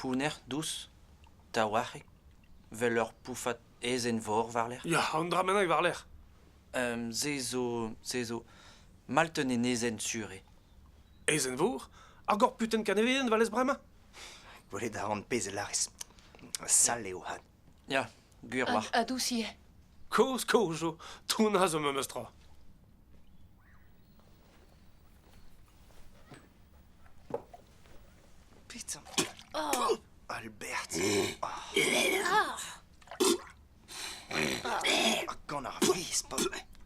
Pounner dous, taouarc'hek, 'vel ur poufad aezhenn-vor war-lerc'h. Ya, an dra bennak war-lerc'h. se zo, se zo, malt un enezenn sur eo. Aezhenn-vor? Ar gorputen kanevedenn 'valez bremañ? Gwelet a ran pezh a lârez. Sall eo hat. Ya, gwir oac'h. Ha, dousier. Koz, koz zo. Trounaz o memes tra. Putain. Oh. Albert. Ah. Ah. Gant ar vis, pa...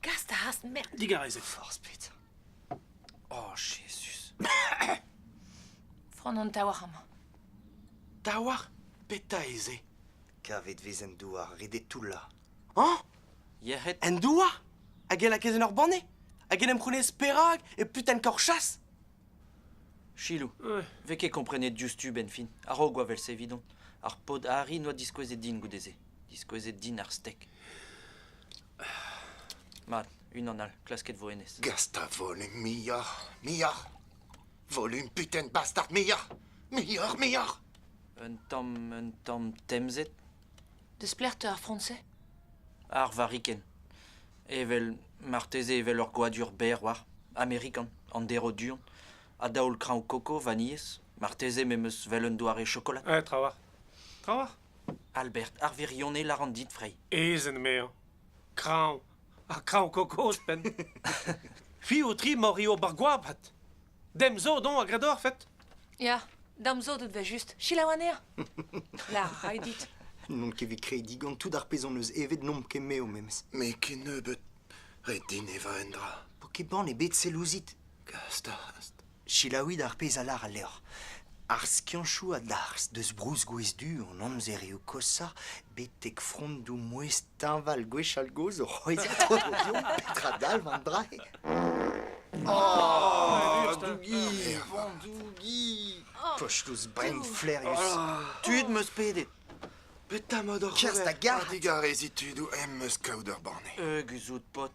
Gast a has, merde. Digarezet. Force, putain. Oh, Jezuz! Frond an taouarc'h amañ. Taouarc'h? Petra ez eo? Kavet vez en douar ret eo toullañ. Hañ? Yec'hed? En douar? Hag e lakez en ur banne? Hag en em c'hounez perak e putenn korchas? Chilou, vez ket komprenet diouzhtu benfin, a-raok oa vel-se evidon. Ar paotr Harry noa diskouezet din goude-se. Diskouezet din ar stek. Mat, unan all, klasket vo hennezh. Gast a volum muioc'h, muioc'h. Volum puten bastard muioc'h, muioc'h, muioc'h. Un tamm, un tamm temzet. Desplec'h teu ar front-se Ar variken. Evel, marteze evel ur goadur berr war. Amerikan, an dero duon. A daol kraoñ koko, vanilhez. Marteze me'm eus 'vel un doare chokolad. Eh, trawalc'h. Trawalc'h Albert, ar wirionez lâran dit, Frey. Ezen, maer. Kraoñ. Ha kraoñ-kokos ouzhpenn. Fi ho-tri mor eo bar goabad. Dem zo don a gredorfet. Ya, dam zo deut vel-just. Selaou anezhañ. La, rai dit. N'on ket bet krediñ gant tout ar pezh hon eus evet n'omp ket m'eo memes. Me ken nebeut. Ret din evañ un dra. Po ket bann ebet sell ouzit. Gast, gast. Selaouit ar pezh a lâr al levr. Ar skiantoù a-darzh deus brousgwez du an amzerioù koshañ betek frondoù mouezh teñval gwechall-gozh o c'hwezhañ odium petra dalv an dra-se? Oh, Dougi, Vandougi, kostouz brein flaerius. Tud 'm eus pedet. Petra 'mod oc'h Kerzh da ober? gard. A-digarezit tudoù em eus kaout ur banne. Eus out, paotr.